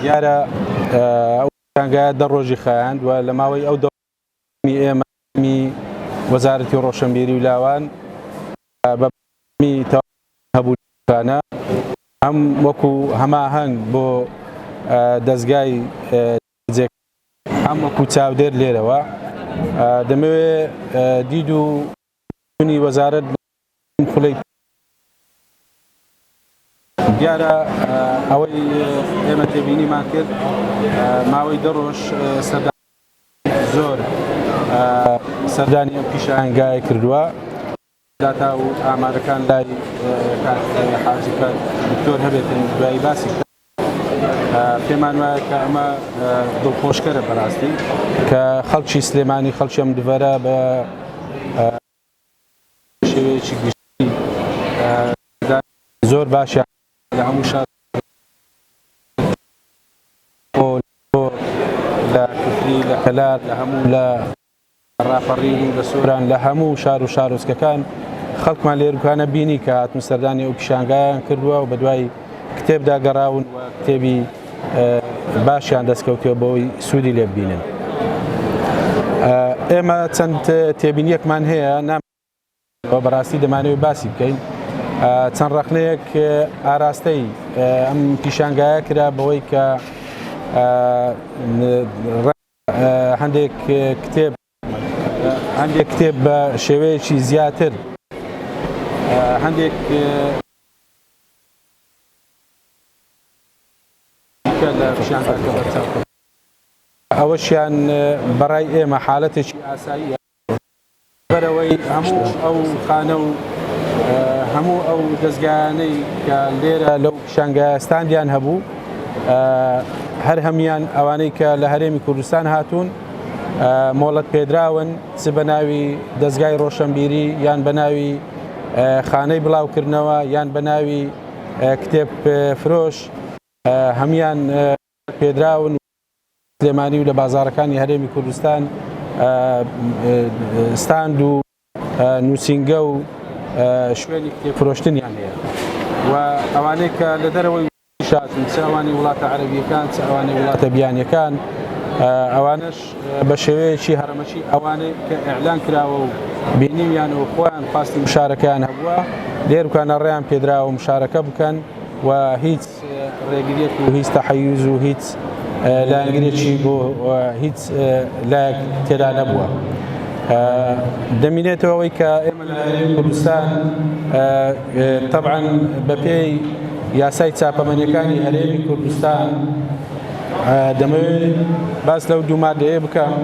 دیارە ئەو پێشانگایە دە ڕۆژی خایاند و لە ماوەی ئەو دە ڕۆژەی ئێمە تیمی وەزارەتی ڕۆشنبیری و لاوان بە بەردەوامی تەواوکردنی هەبوونەوەکانە هەم وەکو هەماهەنگ بۆ دەزگای جێبەجێکاری و هەم وەکو چاودێر لێرەوە دەمەوێت دید و بوونی وەزارەت بە چەند خولەی پێوە دیارە، ئەوەی ئێمە تێبینیمان کرد ماوەی دە رۆژ سەردانیکردنی زۆر سەردانی ئەم پیشانگایە کردووە، داتا و ئامارەکان لای کاک حاجی کاک دکتۆر هەبێتن دوایی باسی بکەن. پێمان وایە کە ئەمە دڵخۆشکەرە بەراستی کە خەڵکی سلێمانی خەڵکی ئەم دڤەرە بە شێوەیەکی گشتی زۆر باشیان لە هەموو شار لە کفری لە کەلار لە هەموو لە ڕاپەڕین و لە سۆران لە هەموو شار و شارۆچکەکان خەڵکمان لە ئێروکانە بینی کە هاتن سەردانی ئەو پیشانگایان کردووە و بەدوای کتێبدا گەڕاون و کتێبی باشیان دەستکەوتووە بۆی سوودی لێببینن ئێمە چەند تێبینیەکمان هەیە نام و بەراستی دەمانەوێت باسی بکەین چەند ڕەخنەیەک ئاراستەی ئەم پیشانگایە کرا بەوەی کە هەندێک کتێب هەندێک کتێب بە شێوەیەکی زیاتر هەندێک ئەوەشیان بەڕای ئێمە حالەتێکی ئاساییە. بەرەوەی هەموو ئەو خانە و هەموو ئەو دەزگایانەی کە لێرە لەو پیشانگایە ستاندیان هەبوو هەر هەموویان ئەوانەی کە لە هەرێمی کوردستان هاتوون مۆڵەت پێدراون چ بە ناوی دەزگای ڕۆشنبیری یان بە ناوی خانەی بڵاوکردنەوە یان بە ناوی کتێب فرۆش هەموویان پێدراون و سلێمانی و لە بازاڕەکانی هەرێمی کوردستان ستاند و نووسینگە و شوێنی کتێب فرۆشتنیان هەیە و ئەوانەی کە لە دەرەوەی وڵاتیش هاتوون چ ئەوانی وڵاتە عەرەبییەکان چ ئەوانی وڵاتە بیانییەکان ئەوانەش بە شێوەیەکی هەڕەمەکی ئەوانەی کە ئیعلان کراوە و بینیویان و خۆیان خواستی مشارەکەیان هەبووە لێرکانە ڕێیان پێدراوە مشارەکە بکەن و هیچ ڕێگریەک و هیچ تەحەیوز و هیچ لایەنگرێکی بۆ هیچ لایەک تێدا نەبووە. دەمینێتەوە ئەوەی کە ئێمە لە هەرێمی کوردستان تەبعەن بەپێی یاسای چاپەمەنیەکانی هەرێمی کوردستان دەمەوێت باس لەو دوو مادەیە بکەم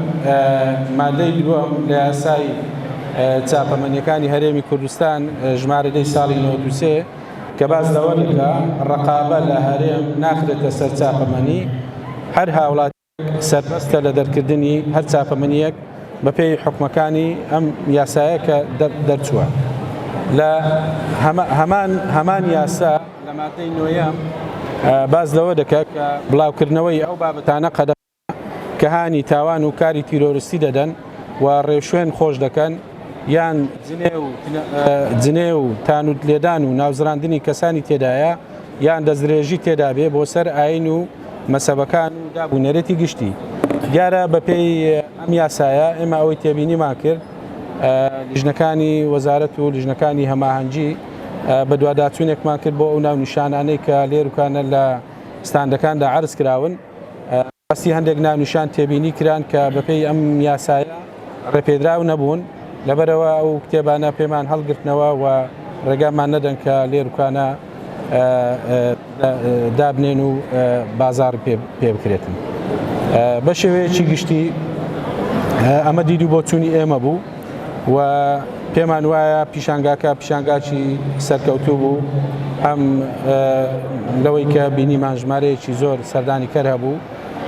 مادەی دووەم لە یاسای چاپەمەنیەکانی هەرێمی کوردستان ژمارە دەی ساڵی نۆدوسێ کە باس لەوە دەکا ڕەقابە لە هەرێم ناخرێتە سەر چاپەمەنی، هەر هاوڵاتییەک سەربەستە لە دەرکردنی هەر چاپەمەنییەک بەپێی حوکمەکانی ئەم یاسایە کە دەرچووە لە هەمان یاسا لە ماددەی نۆیەم باس لەوە دەکا کە بڵاوکردنەوەی ئەو بابەتانە قەدەغە کە هانی تاوان و کاری تیرۆرستی دەدەن و ڕێوشوێن خۆش دەکەن یان جنێو و تانووت لێدان و ناوزڕاندنی کەسانی تێدایە یان دەستدرێژی تێدا بێ بۆ سەر ئایین و مەسەبەکان و داب و نەرێتی گشتی. دیارە بە پێی ئەم یاسایە ئێمە ئەوەی تێبینیمان کرد لیژنەکانی وەزارەت و لیژنەکانی هەماهەنگی بەدواداچوونێکمان کرد بۆ ئەو ناونیشانانەی کە لێروکانە لە ستاندەکاندا عەرز کراون، بەڕاستی هەندێک ناونیشان تێبینی کران کە بەپێی ئەم یاسایە ڕێپێدراو نەبوون، لەبەرئەوە ئەو کتێبانە پێمان هەڵگرتنەوە و ڕێگامان نەدەن کە لێروکانە دابنێن و بازاڕ پێ بکرێتن. بەشێوەیەکی گشتی ئەمە دید و بۆچوونی ئێمە بوو. و پێمان وایە پیشانگاکە پیشانگاکی سەرکەوتوو بوو هەم لەوەی کە بینیمان ژمارەیەکی زۆر سەردانی کەر هەبوو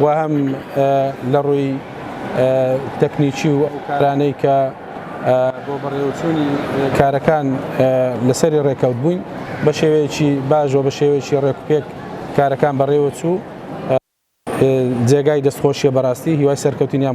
و هەم لە ڕووی تەکنیکی و کارانەی کە بۆ بەڕێوەچوونی کارەکان لەسەری ڕێکەوت بووین بە شێوەیەکی باش و بە شێوەیەکی ڕێکوپێک کارەکان بەڕێوە چوو جێگای دەستخۆشیە بەڕاستی هیوای سەرکەوتنیان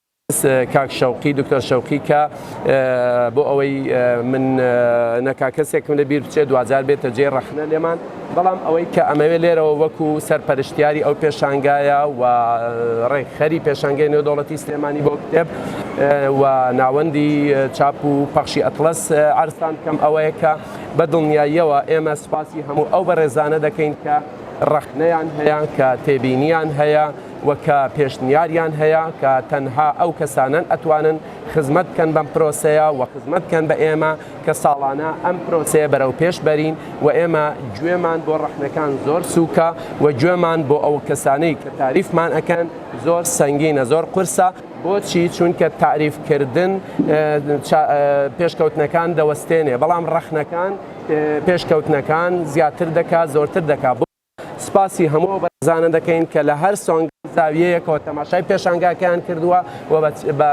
کاک شەوقی دکتۆر شەوقی کە بۆ ئەوەی من نەکا کەسێکم لە بیر بچێت دواجار بێتە جێی ڕەخنە لێمان بەڵام ئەوەی کە ئەمەوێ لێرەوە وەکو سەرپەرشتیاری ئەو پێشانگایە و ڕێکخەری پێشانگەی نێودەوڵەتی سلێمانی بۆ کتێب و ناوەندی چاپ و پەخشی ئەتڵەس عەرزتان بکەم ئەوەیە کە بە دڵنیاییەوە ئێمە سوپاسی هەموو ئەو بەڕێزانە دەکەین کە ڕەخنەیان هەیە کە تێبینیان هەیە و کە پێشنیاریان هەیە کە تەنها ئەو کەسانەن ئەتوانن خزمەت بکەن بەم پرۆسەیە و خزمەت بکەن بە ئێمە کە ساڵانە ئەم پرۆسەیە بەرەو پێش بەرین و ئێمە گوێمان بۆ ڕەخنەکان زۆر سوکە و گوێمان بۆ ئەو کەسانەی کە تاریفمان ئەکەن زۆر سەنگینە زۆر قورسە بۆچی چونکە تاریف کردن پێشکەوتنەکان دەوەستێنێ بەڵام ڕەخنەکان پێشکەوتنەکان زیاتر دەکات زۆرتر دەکات. سپاسی هەموو ئەو بەڕێزانە دەکەین کە لە هەر سۆنگەو زاویەیەکەوە تەماشای پێشانگاکەیان کردووە و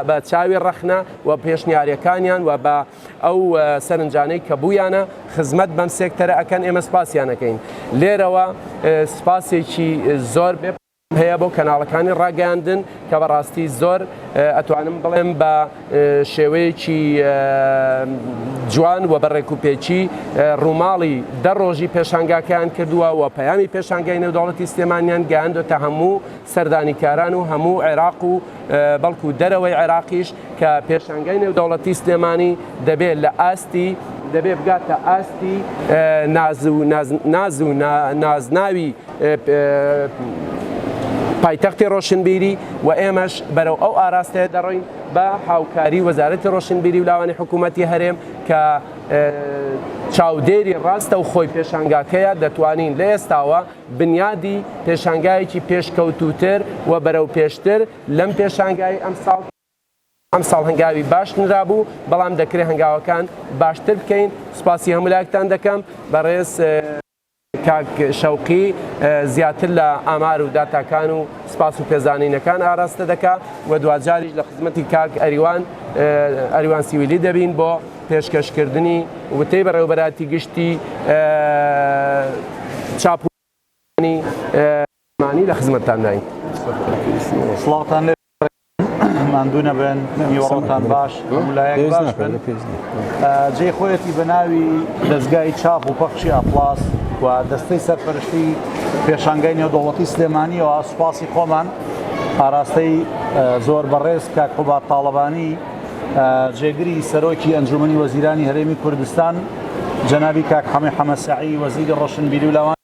بە چاوی ڕەخنە و پێشنیارەکانیان و بە ئەو سەرنجانەی کە بوویانە خزمەت بەم سێکتەرە ئەکەن ئێمە سپاسیان ئەکەین لێرەوە سپاسێکی زۆر هەیە بۆ کەناڵەکانی ڕاگەیاندن کە بەڕاستی زۆر ئەتوانم بڵێم بە شێوەیەکی جوان و بە ڕێکوپێکی ڕووماڵی دە ڕۆژی پێشانگاکەیان کردووە و پەیامی پێشانگای نێودەوڵەتی سلێمانیان گەیاندۆتە هەموو سەردانیکاران و هەموو عێراق و بەڵکو دەرەوەی عێراقیش کە پێشانگای نێودەوڵەتی سلێمانی دەبێت لە ئاستی دەبێ بگاتە ئاستی ناز و نازناوی پایتەختی ڕۆشنبیری و ئێمەش بەرەو ئەو ئاراستەیە دەڕۆین بە هاوکاری وەزارەتی ڕۆشنبیری و لاوانی حکوومەتتی هەرێم کە چاودێری ڕاستە و خۆی پێشانگاکەیە دەتوانین لە ئێستاوە بنیادی پێشانگایەکی پێشکەوتوتر و بەرەو پێشتر لەم پێشانگای ئەمساڵ ئەم ساڵ هەنگاوی باش نرابوو بەڵام دەکرێت هەنگاوەکان باشتر بکەین سپاسی هەمولایەکتان دەکەم بەڕێز کاک شەوقی زیاتر لە ئامار و داتاکان و سپاس و پێزانینەکان ئاراستە دەکا و دواجاریش لە خزمەتی کاک ئەریوان ئەریوان سیویلی دەبین بۆ پێشکەش کردنی وتەی بەڕێوەبەرایەتی گشتی چاپ و گەشتیاری نیشتمانی لە خزمەتتانداین. بەڕێزان ماندوو نەبن نیوەڕۆتان باش هەموو لایەک باش بن جێی خۆیەتی بە ناوی دەزگای چاپ و پەخشی ئەپڵاس و دەستەی سەرپەرشتی پێشانگای نێودەوڵەتی سلێمانیەوە سوپاسی خۆمان ئاراستەی زۆر بەڕێز کاک قوباد تاڵەبانی جێگری سەرۆکی ئەنجومنی وەزیرانی هەرێمی کوردستان جەنابی کاک حەمە حەمە سەعی وەزیری ڕۆشنبیری و لاوان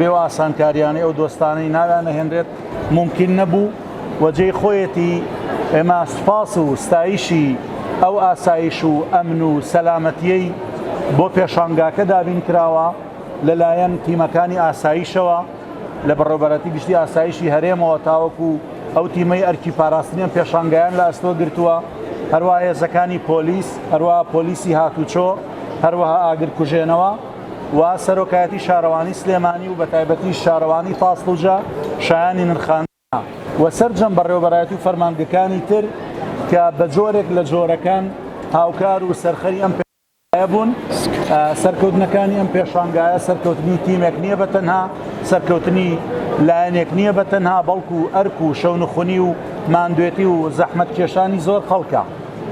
بەو ئاسانکاریانەی ئەو دۆستانەی ناویان نەهێنرێت مومکین نەبوو و جێی خۆیەتی ئێمە سوپاس و ستایشی ئەو ئاسایش و ئەمن و سەلامەتیەی بۆ پێشانگاکە دابین کراوە لەلایەن تیمەکانی ئاسایشەوە لە بەڕێوەبەرایەتی گشتی ئاسایشی هەرێمەوە تاوەکو ئەو تیمەی ئەرکی پاراستنی ئەم پێشانگایان لە ئەستۆ گرتووە هەروەها هێزەکانی پۆلیس هەروەها پۆلیسی هاتوچۆ هەروەها ئاگرکوژێنەوە. و سەرۆکایەتی شارەوانی سلێمانی و بەتایبەتیش شارەوانی تاسڵوجە شایانی نرخاندنە و سەرجەم بەڕێوەبەرایەتی و فەرمانگەکانی تر کە بە جۆرێک لە جۆرەکان هاوکار و سەرخەری ئەم پێشانگایە بوون. سەرکەوتنەکانی ئەم پێشانگایە سەرکەوتنی تیمێک نییە بە تەنها، سەرکەوتنی لایەنێک نییە بە تەنها، بەڵکو ئەرک و شەونخونی و ماندوێتی و زەحمەتکێشانی زۆر خەڵکە.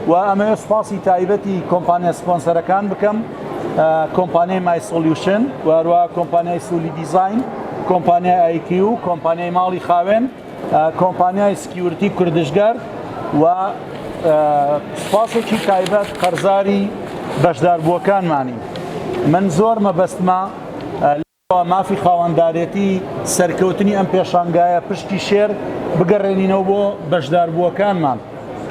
و ئەمەوێت سوپاسی تایبەتی کۆمپانیا سپۆنسەرەکان بکەم کۆمپانیای مای سۆلیوشن و هەروە کۆمپانیای سولی دیزاین کۆمپانیای ئایکی و کۆمپانیای ماڵی خاوێن کۆمپانیای سکیورتی کوردشگەر و سوپاسێکی تایبەت قەرزاری بەشداربووەکانمانی من زۆر مەبەستمە با مافی خاوەندارێتی سەرکەوتنی ئەم پێشانگایە پشتی شێر بگەڕێنینەوە بۆ بەشداربووەکانمان،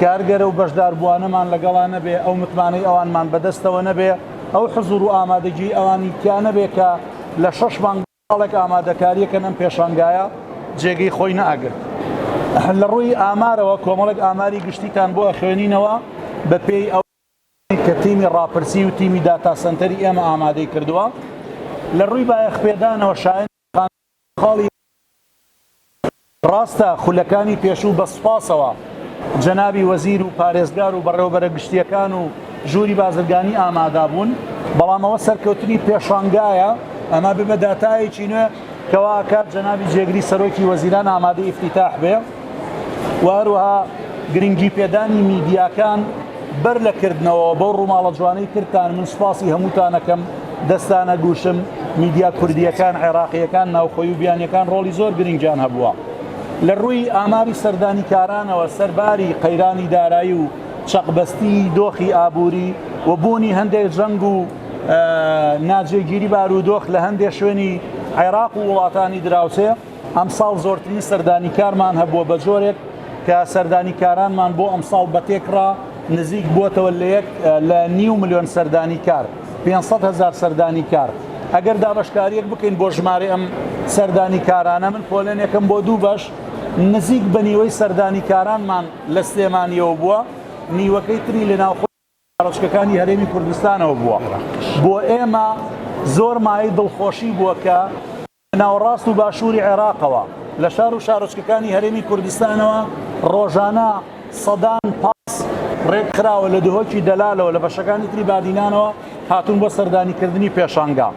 کارگەرە و بەشداربووانەمان لەگەڵا نەبێ، ئەو متمانەی ئەوانمان بەدەستەوە نەبێ، ئەو حزوور و ئامادەگیی ئەوانی تیا نەبێ کە لە شەش مانگ ساڵێک ئامادەکارییەکەن ئەم پێشانگایە جێگەی خۆی نەئەگرت. لە ڕووی ئامارەوە کۆمەڵێک ئاماری گشتیتان بۆ ئەخوێنینەوە بە پێی ئەو. کە تیمی ڕاپرسی و تیمی داتا سەنتەری ئێمە ئامادەی کردووە لە ڕووی بایەخپێدانەوە شایەنی خواندنە خاڵی ڕاستە خولەکانی پێشوو بە سوپاسەوە جەنابی وەزیر و پارێزگار و بەڕێوەبەرە گشتییەکان و ژووری بازرگانی ئامادا بوون بەڵام ئەوە سەرکەوتنی پێشانگایە ئەمە ببە داتایەکی نوێ کەوا ئەکات جەنابی جێگری سەرۆکی وەزیران ئامادەی ئیفتیتاح بێ. و هەروەها گرنگی پێدانی میدیاکان بەر لە کردنەوە بەو ڕووماڵە جوانەی ترتان من سپاسی هەمووتانەکەم دەستانە گوشم میدیا کوردیەکان عێراقیەکان ناوخۆی و بیانیەکان ڕۆڵی زۆر گرنگیان هەبووە لە ڕووی ئاماری سەردانی کارانەوە سەرباری قەیرانی دارایی و چەقبەستی دۆخی ئابووری و بوونی هەندێک جەنگ و ناجێگیری بارودۆخ لە هەندێک شوێنی عێراق و وڵاتانی دراوسێ ئەمساڵ زۆرترین سەردانیکارمان هەبووە بە جۆرێک کە سەردانیکارانمان بۆ ئەمساڵ بە تێکڕا نزیک بووەتەوە لە یەک لە نیو ملیۆن سەردانیکار 500 هەزار سەردانیکار ئەگەر دابەشکاریەک بکەین بۆ ژمارە ئەم سەردانیکارانە من پۆلێنێکم بۆ دوو بەش نزیک بە نیوەی سەردانیکارانمان لە سلێمانیەوە بووە نیوەکەی تری لە ناوخۆ شارۆچکەکانی هەرێمی کوردستانەوە بووە، بۆ ئێمە زۆر مایەی دڵخۆشی بووە کە لە ناوەڕاست و باشووری عێراقەوە، لە شار و شارۆچکەکانی هەرێمی کوردستانەوە ڕۆژانە سەدان پاس ڕێکخراوە لە دهۆکی دەلالەوە لە بەشەکانی تری بادینانەوە هاتوون بۆ سەردانیکردنی پێشانگا.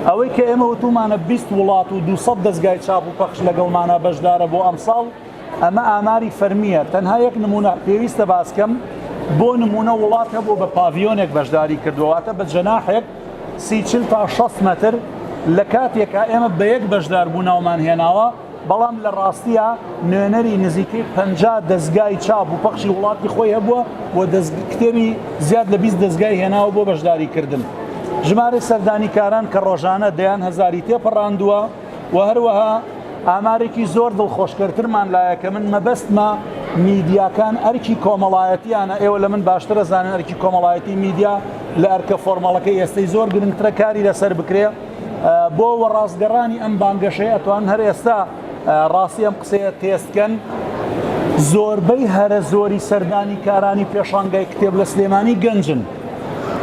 ئەوەی کە ئێمە وتوومانە بیست وڵات و دوو سەد دەزگای چاپ و پەخش لەگەڵمانە بەشدارە بۆ ئەمساڵ، ئەمە ئاماری فەرمییە، تەنها یەک نموونە پێویستە باس کەم، بۆ نموونە وڵات هەبووە بە پاڤیۆنێک بەشداری کردووە، واتە بە جەناحێک سی چل تا شەست مەتر، لە کاتێکا ئێمە بە یەک بەشداربوو ناومان هێناوە، بەڵام لە ڕاستیا نوێنەری نزیکەی پەنجا دەزگای چاپ و پەخشی وڵاتی خۆی هەبووە و کتێبی زیاد لە بیست دەزگای هێناوە بۆ بەشداریکردن. ژمارەی سەردانیکاران کە ڕۆژانە دەیان هەزاری تێپەڕاندووە، و هەروەها ئامارێکی زۆر دڵخۆشکەرترمان لایە کە من مەبەستمە میدیاکان ئەرکی کۆمەڵایەتیانە ئێوە لە من باشترە زانن ئەرکی کۆمەڵایەتی میدیا لە ئەرکە فۆرمەڵەکە ئێستەی زۆر گرنگترە کاری لەسەر بکرێ بۆ وە ڕاستگەڕانی ئەم بانگەشەی ئەتوان هەر ئێستا ڕاستی ئەم قسەیە تێستکەن زۆربەی هەرە زۆری سەردانی کارانی پێشانگای کتێب لە سلێمانی گەنجن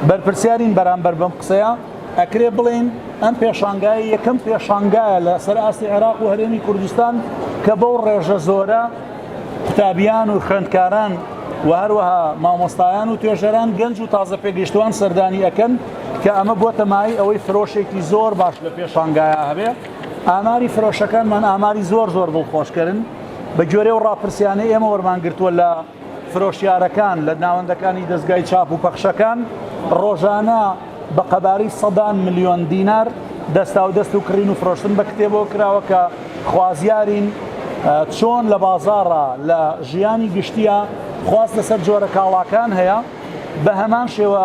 بەرپرسیارین بەرامبەر بەم قسەیە ئەکرێ بڵێین ئەم پێشانگای یەکەم پێشانگایە لە سەر ئاستی عێراق و هەرێمی کوردستان کە بەو ڕێژە زۆرە قوتابیان و خوێندکاران و هەروەها مامۆستایان و توێژەران گەنج و تازە پێگەشتوان سەردانی ئەەکەن کە ئەمە بۆتە مای ئەوەی فرۆشێکی زۆر باش لە پێشانگایە هەبێ ئاماری فرۆشەکانمان ئاماری زۆر زۆر دڵخۆشکردن بە گوێرە و ڕاپرسیانە ئێمە وەرمانگرتووە لە فرۆشیارەکان لە ناوەندەکانی دەزگای چاپ و پەخشەکان ڕۆژانە بە قەبارەی سەدان ملیۆن دینار دەستاودەست و کڕین و فرۆشتن بە کتێبەوە کراوە کە خوازیارین چۆن لە بازاڕە لە ژیانی گشتیە خواست لەسەر جۆرە کاڵاکان هەیە بە هەمان شێوە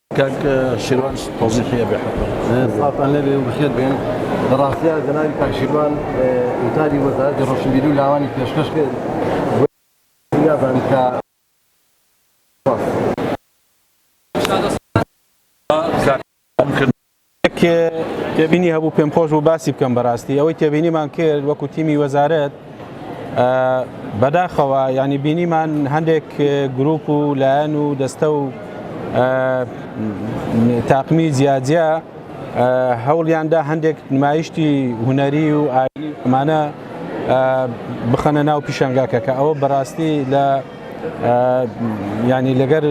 کاک شیروان تۆزیقیە بێ حەپە. سڵاوتان لێبێ و بەخێر بێن. لە ڕاستیا جەنابی کاک شیروان وتاری وەزارەتی ڕۆشنبیری و لاوانی پێشکەش کرد و نازانم کە سوپاس. یەک تێبینی هەبوو پێم خۆش بوو باسی بکەم بەڕاستی ئەوەی تێبینیمان کرد وەکو تیمی وەزارەت بەداخەوە ینی بینیمان هەندێک گروپ و لایەن و دەستە و تاقمی جیاجیا هەوڵیاندا هەندێک نمایشتی هوەری و ئامانە بخەنە ناو پیشنگاکە کە ئەوە بەڕاستی لە یانی لەگەر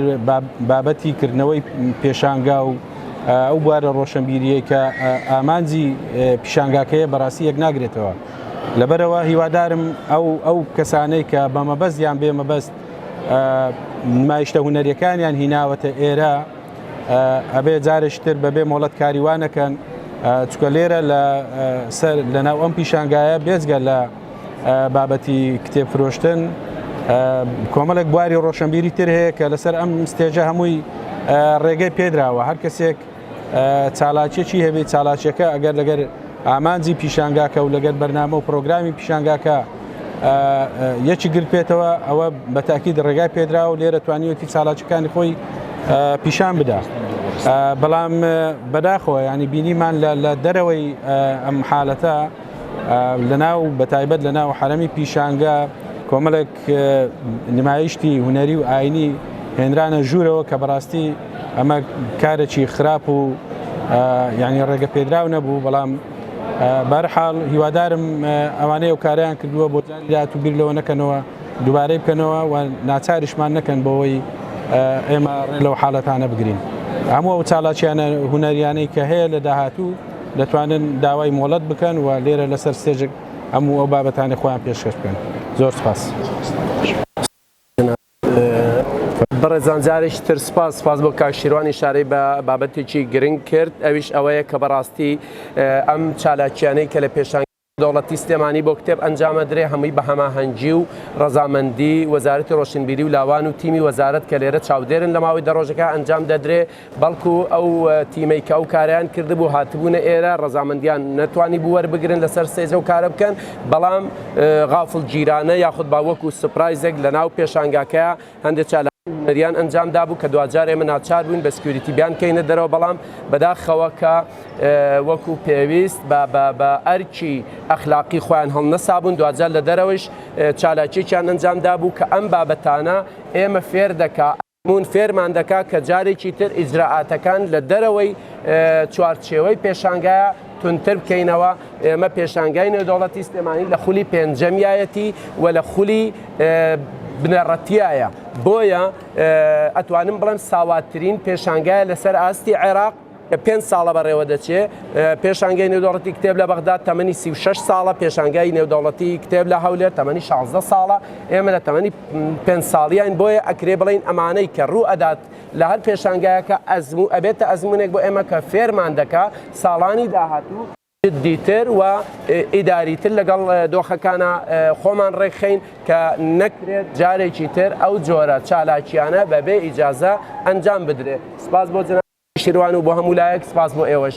بابەتی کردنەوەی پێشانگا و ئەو بوارە ڕۆشنبیریەی کە ئامانجی پیشانگاکەیە بەڕاستی یەک ناگرێتەوە لەبەرەوە هیوادارم ئەو ئەو کەسانەی کە بە مەبەست یان بێ مەبەست نمایشتە هوەرەکانیان هیناوەتە ئێرە ئەبێ جارشتر بەبێ مۆڵەت کاریوانەکەن چکە لێرە لە سەر لەناو ئەم پیشانگایە بێزگە لە بابەتی کتێب فرۆشتن کۆمەڵێک بواری ڕۆشنبیری تر هەیە کە لەسەر ئەم ستێژە هەمووی ڕێگەی پێدراوە هەر کەسێک چالاکیەکی هەبێت چالاکیەکە ئەگەر لەگەر ئامانجی پیشانگاکە و لەگەر بەرنامە و پرۆگرامی پیشانگاکە یەکی گرت پێێتەوە ئەوە بەتاکی ڕێگای پێدرا و لێرە توانیوەتی چالاکیەکانی خۆی پیشان بدا بەڵام بەداخەوە ینی بینیمان لە دەرەوەی ئەم حالەتە لەناو بەتایبەت لەناو حەرەمی پیشانگا کۆمەڵێک نمایشتی هونەری و ئاینی هێنرانە ژوورەوە کە بەڕاستی ئەمە کارێکی خراپ و یعنی ڕێگە پێدراو نەبوو بەڵام بەرحاڵ هیوادارم ئەوانەیە و کاریان کردووە بۆ دات و بیر لەوە نەکەنەوە دووبارەی بکەنەوە و ناچاریشمان نەکەن بۆەوەی ئێمە ڕێ لەو حاڵەتانە بگرین هەموو ئەو چاڵاکییانە هونەریانەی کە هەیە لە داهاتوو دەتوانن داوای مۆڵەت بکەن و لێرە لەسەر ستێجێک هەموو ئەو بابەتانەی خۆیان پێشکەش بکەن. زۆر سپاس. بەڕێزان جارێکی تر سپاس، سپاس بۆ کاک شیروان ئیشارەی بە بابەتێکی گرنگ کرد ئەویش ئەوەیە کە بەڕاستی ئەم چالاکیانەی کە لە پێشانگای. دەوڵەتی سلێمانی بۆ کتێب ئەنجامەدرێ هەمووی بە هەماهەنگی و ڕەزامەندی وەزارەتی ڕۆشنبیری و لاوان و تیمی وەزارەت کە لێرە چاودێرن لە ماوەی دە ڕۆژەکە ئەنجام دەدرێ بەڵکو ئەو تیمەی کە ئەو کارەیان کردبوو هاتبوونە ئێرە ڕەزامەندیان نەتوانیبوو وەربگرن لەسەر ستەیج ئەو کارە بکەن بەڵام غافڵگیرانە یاخود با وەکو سوپرایزێک لەناو پێشانگاکەیا هەندێک چالاکی هونەریان ئەنجام دابوو کە دواجار ئێمە ناچار بووین بە سکیوریتی بیانکەینە دەرەوە بەڵام بەداخەوە کە وەکو پێویست بە ئەرکی ئەخلاقی خۆیان هەڵنەسابوون دواجار لە دەرەوەیش چالاکیێکیان ئەنجام دابوو کە ئەم بابەتانە ئێمە فێر دەکا ئەزموون فێرمان دەکا کە جارێکی تر ئیجرائاتەکان لە دەرەوەی چوارچێوەی پێشانگایە توندتر بکەینەوە ئێمە پێشانگای نێودەوڵەتی سلێمانی لە خولی پێنجەمیایەتی و لە خولی بنەڕەتیایە بۆیە ئەتوانم بڵێم ساواتترین پێشانگایە لەسەر ئاستی عێراق پێنج ساڵە بەڕێوە دەچێ پێشانگەی نێودەوڵەتی کتێب لە بەغدا تەمەنی 36 ساڵە پێشانگای نێودەوڵەتی کتێب لە هەولێر تەمەنی 16 ساڵە ئێمە لە تەمەنی پێ ساڵیان بۆیە ئەکرێ بڵین ئەمانەی کە ڕوو ئەدات لە هەر پێشانگایەکە ئەزمو و ئەبێتە ئەزمونێک بۆ ئێمە کە فێرمان دەکا ساڵانی داهاتو جدیتر و ئیداریتر لەگەڵ دۆخەکانا خۆمان ڕێکخەین کە نەکرێت جارێکی تر ئەو جۆرە چالاکیانە بە بێ ئیجازە ئەنجام بدرێت. سپاس بۆ جەنابی نەوشیروان و بۆ هەمو لایەک سپاس بۆ ئێوەش.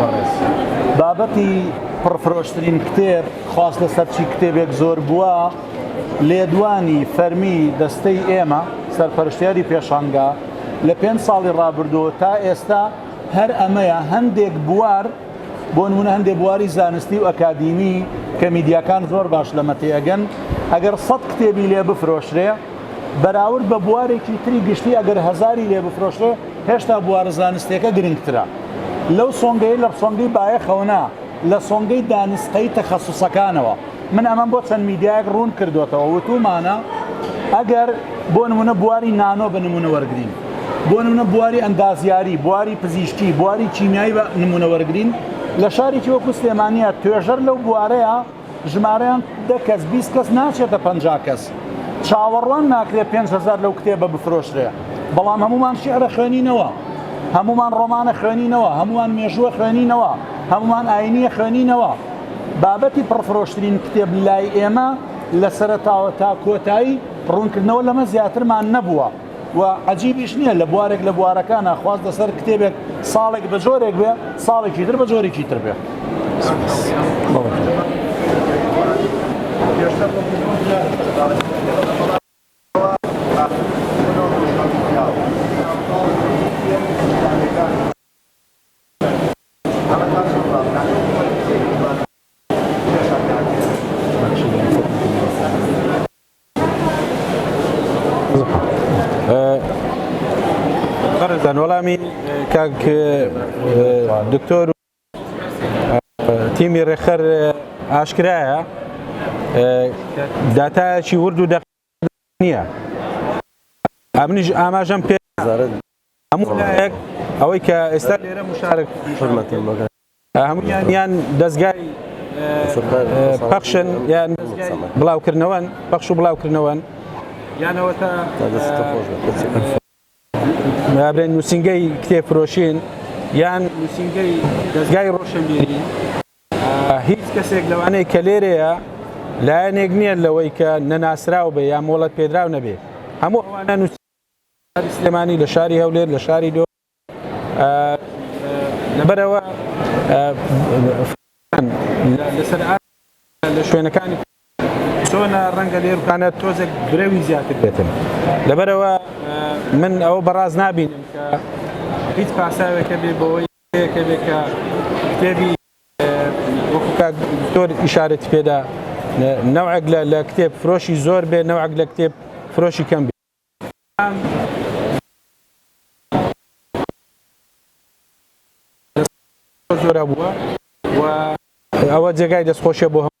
بەڕێز بابەتی پڕ فرۆشترین کتێب خواست لەسەر چی کتێبێک زۆر بووە لێدوانی فەرمی دەستەی ئێمە سەرپەرشتیاری پێشانگا لە پێنج ساڵی ڕابردووە تا ئێستا هەر ئەمەیە هەندێک بوار بۆ نمونە هەندێک بواری زانستی و ئەکادیمی کە میدیاکان زۆر باش لەمە تێگەن ئەگەر سەد کتێبی لێ بفرۆشرێ بەراورد بە بوارێکی تری گشتی ئەگەر هەزاری لێ بفرۆشرێ هێشتا بوارە زانستیەکە گرنگترە لەو سۆنگەی لە سۆنگەی بایەخەوە نا لە سۆنگەی دانسقەی تەخەسوسەکانەوە من ئەمەم بۆ چەند میدیایەک ڕوون کردوێتەوە وتومانە ئەگەر بۆ نمونە بواری نانۆ بە نمونە وەرگین بۆ نمونە بواری ئەندازیاری بواری پزیشکی بواری چینایی بە نمونە وەرگین لە شارێکی وەکو سلێمانە توێژەر لەو بوارەیە ژمارەیان دە کەس بیست کەس ناچێتە پەنجا کەس چاوەڕوان ناکرێت پێنج هەزار لەو کتێبە بفرۆشرێ بەڵام هەمومان شیعرە خوێنینەوە هەمومان ڕۆمانە خوێنینەوە هەمومان مێژووە خوێنینەوە هەمومان ئاینیە خوێنینەوە بابەتی پڕفرۆشترین کتێب لای ئێمە لە سەرتاوە تا کۆتایی ڕوونکردنەوە لەمە زیاترمان نەبووە و عەجیبیش نییە لە بوارێک لە بوارەکانە خواست لەسەر کتێبێک ساڵێک بە جۆرێک بێ ساڵێکی تر بە جۆرێکی تر بێ بەڕێزان وەڵامی کاک دکتۆر تیمی ڕێخەر ئاشکرایە داتایەکی ورد و دەق نییە ئەمنیش ئاماژەم پێ هەموو لایەک ئەوەی کە ئێستا لێرە مشارک هەموویان یان دەزگای پەخشن یان بڵاوکردنەوەن پەخش و بڵاوکردنەوەن یانەوەتا برێن نووسنگەی کتێب فرۆشین یان نووسنگەی دەزگای ڕۆشنبیری هیچ کەسێک لەوانەیە کە لێرەیە لایەنێک نییە لەوەی کە نەناسراو بێ یا مۆڵەت پێدراو نەبێ هەموو ئەوانە نووس شاری سلێمانی لە شاری هەولێر لە شاری دۆ لەبەرەوە فڕۆکەکان لەسەر ئاستی سەرەوە لە شوێنەکانی تر چۆنە ڕەنگە لێروکانە تۆزێک برەوی زیاتر بێتن لەبەرەوە من ئەوە بەڕاست نابینم کە هیچ پاساوێک هەبێ بۆوەی پێکەوێ کە کتێبی وەکو کاک دکتۆر ئیشارەتی پێدا نەوعێک لە کتێب فرۆشی زۆر بێ نەوعێک لە کتێب فرۆشی کەم بێ بەڵام زۆرە بووە و ئەوە جێگای دەستخۆشیە بۆ هەموو